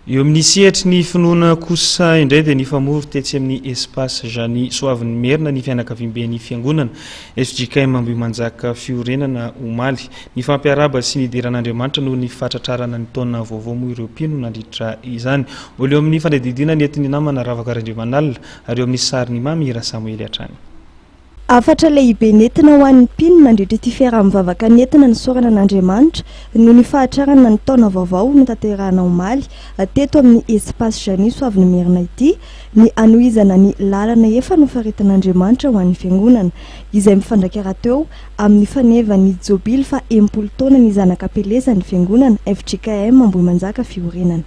Eo amin'ny sehatry ny finoana kosa indray dia nifamory tetsy amin'ny Espace Jany Soavinimerina ny fianakaviamben'ny Fiangonana fjkm Ambohimanjaka Fiorenana omaly. Nifampiarahaba sy nidera an'Andriamanitra noho ny fahatratrarana ny taona vaovao moa ireo mpino nandritra izany. Mbola eo amin'ny fandidiana ny entin'ny namana Ravaka Randriamanalina ary eo amin'ny sarin'i Mamy Rasamely hatrany. Hafatra lehibe nentina ho an'ny mpino nandritra ity fiaraha mivavaka nentina nisaorana an'Andriamanitra noho ny fahatrarana ny taona vaovao notanterahina omaly teto amin'ny Espace Janice Soavinimerina ity ny hanohizana ny lalana efa nofaritan'Andriamanitra ho an'ny Fiangonana izay mifandraika rahateo amin'ny fanevan'ny jobily faha enimpolo taonan'ny Zanak'Ampelezan'ny Fiangonana fjkm Ambohimanjaka Fiorenana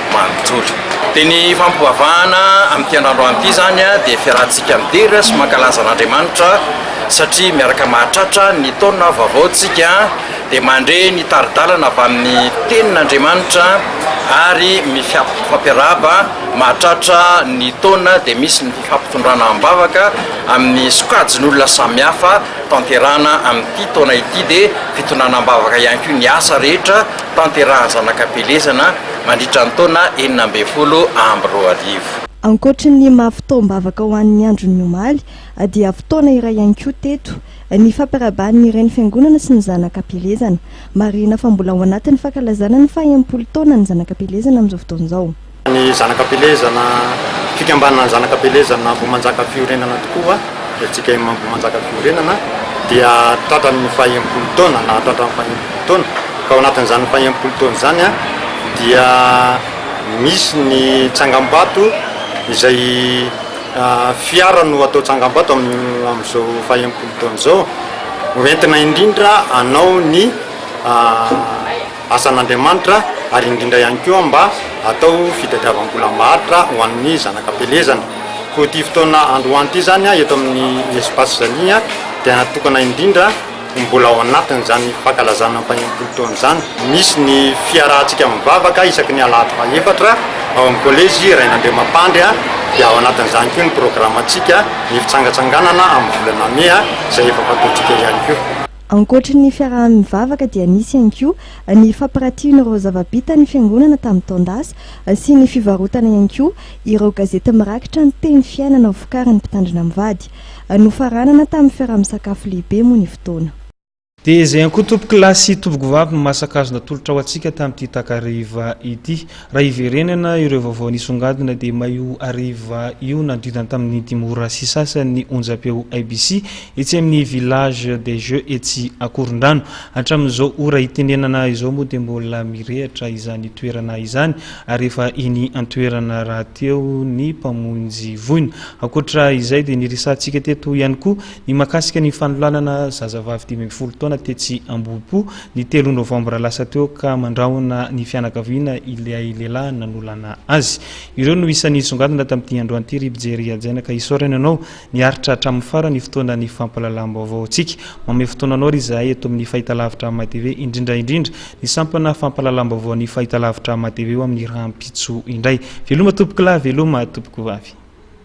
manontolo. Dia ny fampoavahana amin'ity andrandro any ity izany dia fiarahantsika midera sy mankalaza an'Andriamanitra satria miaraka mahatratra ny taona vaovao tsika dia mandre ny tari-dalana avy amin'ny tenin'Andriamanitra ary mifampiarahaba mahatratra ny taona dia misy ny fifampitondrana am-bavaka amin'ny sokajin'olona samihafa tanterahana amin'ity taona ity dia fitondrana am-bavaka ihany koa ny asa rehetra tanterahan'ny zanak'Ampielezana mandritra ny taona enina ambin'ny folo amby roa arivo. Ankoatry ny maha fotoam-bavaka ho an'ny andron'ny omaly, dia fotoana iray ihany koa teto ny fampiraban'ny reny fiangonana sy ny zanaka am-pielezana. Marihina fa mbola ao anatin'ny fankalazana ny faha enimpolo taonan'ny zanaka am-pielezana amin'izao fotoana izao. Ny zanaka am-pielezana, Fikambanana Zanaka am-pielezana Ambohimanjaka Fiorenana tokoa. Ny antsika Imam manjaka fiorenana dia tratran' ny faha enimpolo taona na tratran' ny faha enimpolo taona ka ao anatin' izany faha enimpolo taona izany dia misy ny tsangambato izay fiara no atao tsangambato amin' io amin' izao faha enimpolo taona izao ho entina indrindra hanao ny asan'Andriamanitra ary indrindra ihany koa mba hatao fitadiavam-bola maharitra ho an'ny zanaka am-pelezana. Koa ity fotoana androany ity izany eto amin'ny Espace Zalia dia natokana indrindra ho mbola ao anatin'izany fankalazana ny fahenimpolo taona izany. Misy ny fiarahantsika mivavaka isaky ny alahady fahefatra ao amin'ny Kolejy Rainandriamampandry dia ao anatin'izany koa ny programantsika ny fitsangantsanganana amin'ny volana mey izay efa fataontsika ihany koa. Ankoatry ny fiaraha-mivavaka dia nisy ihany koa ny fampirantian'ireo zava-bita ny Fiangonana tamin'ny taon-dasa sy ny fivarotana ihany koa ireo gazety mirakitra ny teny fiainana vokarin'ny Mpitandrina mivady. Nofaranana tamin'ny fiaraha-misakafo lehibe moa ny fotoana. Dia izay ihany koa tompokolahy sy tompokovavy no maha-sankazona tolotra ho antsika tamin'ity takariva ity. Raha hiverenana ireo vaovao nisongadina dia may io hariva io nanodidina tamin'ny dimy ora sy sasany ny onjam-peo IBC etsy amin'ny Village des Jeux etsy Ankorondrano. Hatramin'izao ora itenenana izao moa dia mbola mirehatra izany toerana izany ary efa eny an-toerana rahateo ny mpamonjy voina. Ankoatra izay dia niresahantsika teto ihany koa ny mahakasika ny fanolanana zazavavy dimy ambin'ny folo taona tetsy Ambohipo Ny telo novambra lasa teo ka mandrahona ny fianakaviana ilay lehilahy nanolana azy. Ireo no isan'ny nisongadina tamin'ity androany ity ry mpijery hajaina ka isaorana ianao niaritra hatramin'ny farany fotoana ny fampahalalam-baovaontsika. Manome fotoana anao ry izahay eto amin'ny Fahitalavitra MATV indrindra indrindra ny sampana fampahalalam-baovaon'ny Fahitalavitra MATV eo amin'ny rahampitso indray. Veloma tompokolahy, veloma tompokovavy.